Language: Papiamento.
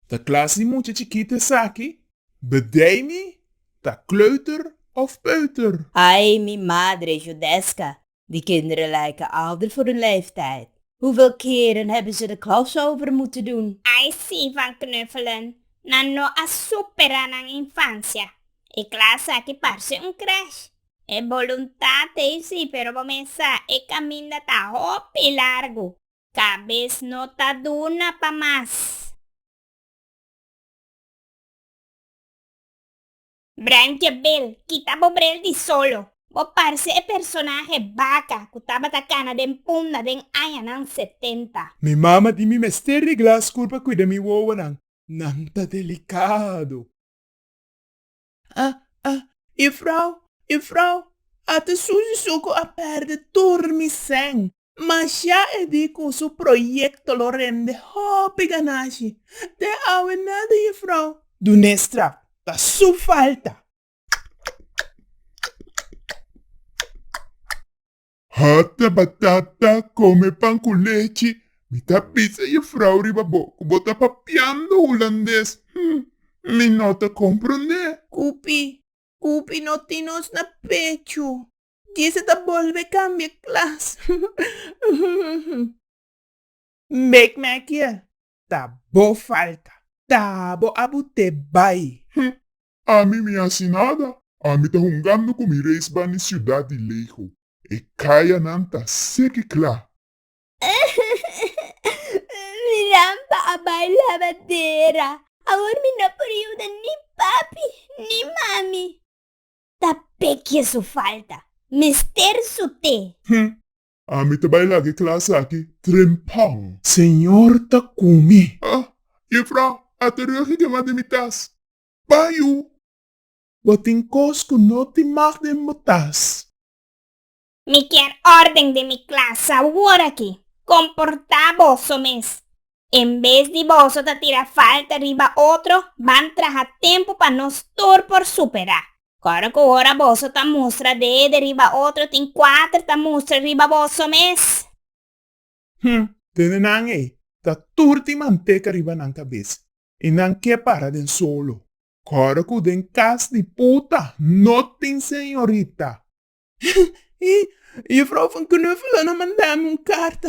Ta klas di mucha chikit esaki, bedeimi ta kleuter of peuter? Ai mi madre judeska, di kinderen lijke ouder voor hun leeftijd, hoeveel keren hebben ze de crossover moeten doen? Ai si van knuffelen, nan no a supera nan infancia. E klas aki parse un crash. E boluntad ei si pero bo mester sa e kaminda ta hopi largu. Cabes no ta duna pa mas. Branchie bel, kita bo brel di solo. Bo parce e personahe Baka cu tabata cana den punda den añanan setenta. Mi mama di mi mester regla school pa cuida mi wowonan, nan ta delicado. A a E frou, e frou, a ta susi su ku a pèrdè tur mi sèn. Mashá e di ku su proyekto lo rende hopi ganashi. Te awe nada e frou. Dunestra, ta su falta. Hata batata, come pan cu lechi. Mi ta bisa jufrouw riba bo cu bo ta papiando hulandes. Hm, mi no ta comprende. Cupi, cupi no tin nos na pechu. Gise ta bolbe cambia klas. Make me a kier. Ta bo falta. Ta bo abu te bay. Ami mi hasi nada. Ami ta hungando ku mi reis ban di siudat di leho. E kayanan ta seki kla. Mi rampa a bai labadera. Awor mi no por yuda ni papi ni mami. Ta pekje su falta. Mester su te. Hm, Ami ta bai laga e klas aki trempang. Señor ta ku mi. Ah, Jefrou, a ta regi kemá den mi tas. Bai u. Bo tin kos ku no tin mag den bo tas. Mi kier órden den mi klas aworakí. Komportá boso mes. En bes di boso ta tira falta riba otro, ban traha tempu pa nos tur por superá. Kòrda ku ora boso ta mustra dede riba otro tin kuater ta mustra riba boso mes. Hm, dede nan ei ta tur tin manteka riba nan kabes i nan ke para den solo. Kòrda ku den kas di puta no tin señorita. Hm, i e vrouw van Knuffelen a mandami un karta.